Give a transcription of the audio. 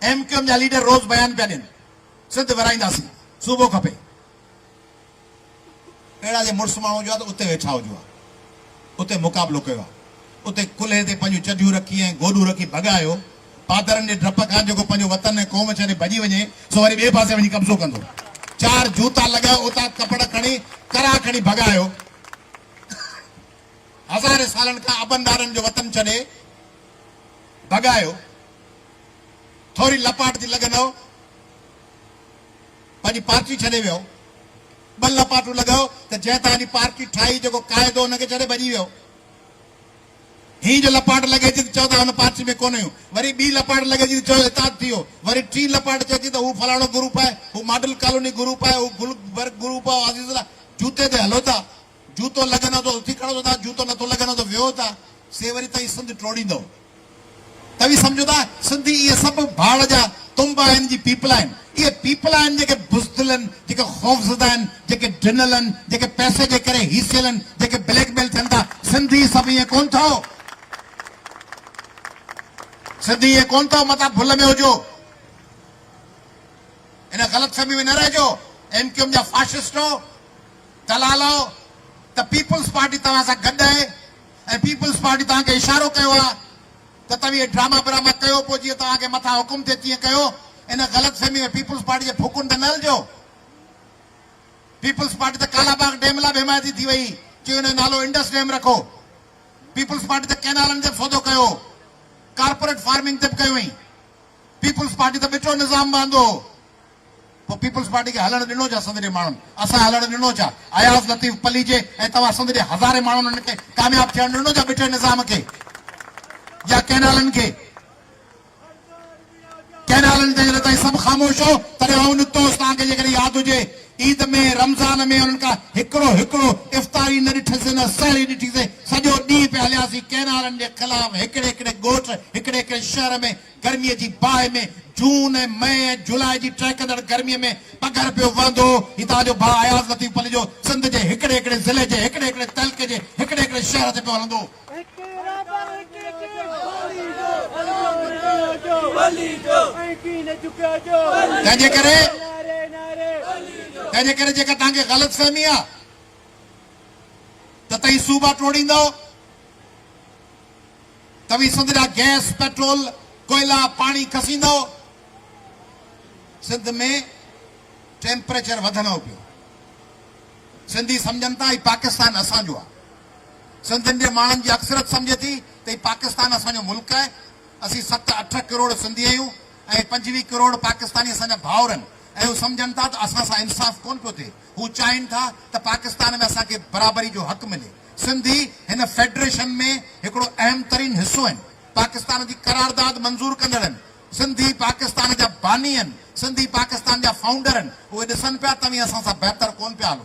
M Q M جا leader روز بيان پيا ڏين سنڌ ورهائينداسين صوبو کپي اهڙا جي مڙس ماڻهو هجو ها ته اتي ويٺا هجو ها اتي مقابلو ڪيو ها اتي ڪلهي تي پنهنجون چڍيون رکي ۽ گوڏون رکي ڀڳايو پادرن جي ڊپ کان جيڪو پنهنجو وطن ۽ قوم ڇڏي ڀڄي وڃي سو وري ٻئي پاسي وڃي قبضو ڪندو چار جوتا لڳايو اتان ڪپڙ کڻي ڪرا کڻي ڀڳايو هزارين سالن کان ابن ڏاڏن جو وطن ڇڏي ڀڳايو، ٿوري لپاٽ جي لڳنئو، پنهنجي پارٽي ڇڏي ويئو، ٻه لپاٽون لڳئو ته جنهن توهان جي پارٽي ٺاهي، جيڪو قائد هو ان کي ڇڏي ڀڄي ويئو. هينئن جو لپاٽ لڳي ٿي ته چئو ٿا هن پارٽي ۾ ڪونه هيون، وري ٻي لپاٽ لڳي ٿي ته چئو اتحاد ٿي ويو، وري ٽين لپاٽ چئي ٿي ته هو فلاڻو گروپ آهي، هو ماڊل ڪالوني گروپ آهي، هو گلبرگ گروپ آهي، عزيز الله جوتي تي هلو ٿا. جوتو لڳندو ته اٿي کڙو ٿيندا، جوتو نٿو لڳندو ته ويهو ٿا، سي وري توهين سنڌ ٽوڙيندؤ. توهين سمجهو ٿا سنڌي اهي سڀ ڀاڙ جا تنب آهن جي پيپلا آهن. اهي پيپلا آهن جيڪي بزدل آهن، جيڪي خوفزده آهن، جيڪي ڊنل آهن، جيڪي پئسي جي ڪري هيسيل آهن، جيڪي بليڪ ميل ٿين ٿا. سنڌي سڀ ايئن ڪونه ٿئو. سنڌي ايئن ڪونه ٿئو. متان ڀل ۾ هجو. ان غلط فهمي ۾ نه رهجو. ايم ڪيو ايم جا فاشسٽو. ڪلالو ته پيپلز پارٽي توهان سان گڏ آهي ۽ پيپلز پارٽي توهان کي اشارو ڪيو آهي ته توهين اهي ڊراما براما ڪيو پوء جيئن توهان کي مٿان حڪم ٿئي تيئن ڪيو ان غلط فهمي ۾ پيپلز پارٽي جي ڦوڪن تي نه هلجو پيپلز پارٽي ته ڪالا باغ ڊيم لاء به حمايتي ٿي وئي چيو ان جو نالو انڊس ڊيم رکو پيپلز پارٽي ته ڪينالن تي به سودو ڪيو ڪارپوريٽ فارمنگ تي به ڪيو هئين پيپلز پارٽي ته ٻٽو نظام به آندو هو. پوء پيپلز پارٽي کي هلڻ ڏنو ڇا سنڌ جي ماڻهن؟ اسان هلڻ ڏنو ڇا اياز لطيف پليجي ۽ توهان سنڌ جي هزارين ماڻهن ان کي ڪامياب ٿيڻ ڏنو ڇا بٺي نظام کي يا ڪئنالن کي ڪئنالن تي جڏهن توهين سڀ خاموش هو تڏهن آئون نڪتو هوس توهان کي جيڪڏهن ياد هجي عيد ۾ رمضان ۾ انهن کان هڪڙو هڪڙو افطاري نه ڏٺسين نه سحري ڏٺيسين سڄو ڏينهن پيا هلياسين ڪئنالن جي خلاف هڪڙي هڪڙي ڳوٺ هڪڙي هڪڙي شهر ۾ گرميء جي باهه ۾ جون ۽ مئي ۽ جولاء جي ٽهڪندڙ گرميء ۾ پگهر پيو وهندو هو. هتان جو باهه اياز لطيف پليجو سنڌ جي هڪڙي هڪڙي ضلعي جي هڪڙي هڪڙي تعلقي جي هڪڙي هڪڙي شهر تي پيو هلندو هو. تنهن جي ڪري تنهن جي ڪري جيڪا توهان کي غلط فهمي آ ته تهين صوبا ٽوڙيندؤ. توهين سنڌ جا گئس، پيٽرول، ڪوئلا، پاڻي کسيندؤ. سنڌ ۾ ٽيمپريچر وڌنؤ پيو. سنڌي سمجهن ٿا هي پاڪستان اسان جو آهي. سنڌين جي ماڻهن جي اڪثريت سمجهي ٿي ته هي پاڪستان اسان جو ملڪ آهي. اسين ست اٺ ڪروڙ سنڌي آهيون ۽ پنجويهه ڪروڙ پاڪستاني اسان جا ڀائر آهن ۽ هو سمجهن ٿا ته اسان سان انصاف ڪونه پيو ٿئي. هو چاهين ٿا ته پاڪستان ۾ اسان کي برابري جو حق ملي. سنڌي هن فيڊريشن ۾ هڪڙو اهم ترين حصو آهن، پاڪستان جي قرارداد منظور ڪندڙ آهن، سنڌي پاڪستان جا باني آهن، سنڌي پاڪستان جا فائونڊر آهن، اهي ڏسن پيا توهين اسان سان بهتر ڪون پيا هلو.